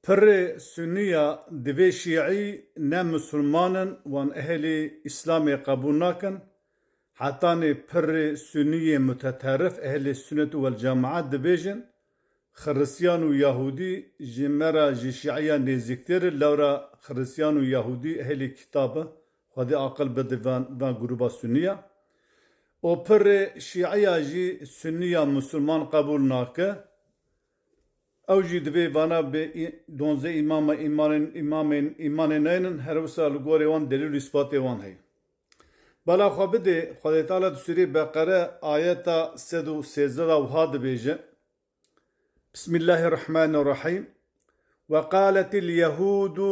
Pirrê Sunî ya divê Şîî ne Musulman in wan ehlî Îslamê qebûl nakin, hetanê pirrê Sunî yê muteterrif ehlê Sunet û Welcemaet dibêjin, Xirisiyan û Yahûdî ji me re ji Şîîyan nêzîktir in lewra Xirisiyan û Yahûdî ehlê Kîtab in, Xwedê aqil bide vê grûba Sunî ya. Û pirrê Şîî ya jî Sunî ya Musulman qebûl nake. Ew jî divê vana bi donzeh îmama îmanên îmamên îmanê neyên in her wisa li gorê wan delîl û îspatê wan heye. Bala xwe bidê, Xwedê Teala di sûreyê Beqere ayeta sed û sêzdeh de wiha dibêje, Bismîllahî Rehmanî Rehîm, Weqaletil Yehûdu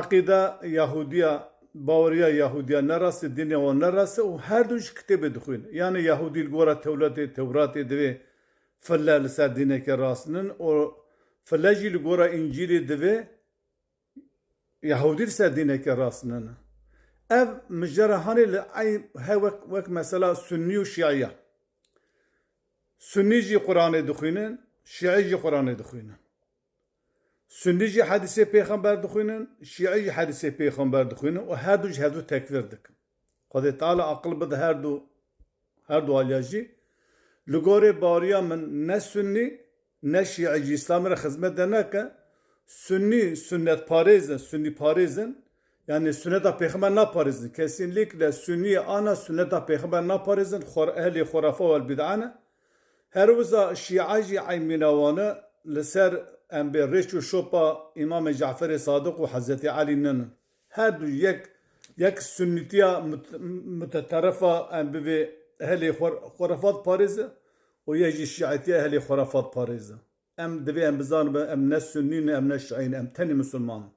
Eqîde Yahûdiya, baweriya Yahûdiya ne rast e, dînê wan ne rast e û her du ji kitêbê dixwîn. Yanî Yahûdî li gora Tewletê, Tewratê divê file li ser dîneke rast nin û file jî li gora Încîlê divê Yahûdî li ser dîneke rast nin. Ev mijara hanê li ey he wek wek mesela Sunnî û Şîî ye. Sunnî jî Quranê dixwînin, Şîî jî Quranê dixwînin. Sunnî jî hedîsê pêxember dixwînin, şîî jî hedîsê pêxember dixwînin û herdû ji hevdû tekfîr dikin. Xwedê Teala aqil bide herdû herdû aliya jî. Li gorî bariya min ne sunnî ne şîî jî îslamê re xizmet dernakin. Sunnî sunnetparêz in, sunnîparêz in. Yanî sunneta pêxember naparêzin. Kesînlîkle sunnî ana sunneta pêxember naparêzin, xor ehlê xurafe wel bîd'a ne. Her wiza Şîa jî eymîna wan e, li ser embê rêç û şopa Îmamê Caferê Sadiq û Hezretê Elî nin. Her du yek yek sunnîtiya muteterrifa embivê ehlê xurafat parêz e û yek jî şîîtiya ehlê xurafat parêz e. Em divê em bizanibin em ne sunnî ne em ne şîî ne em tenê misilman in.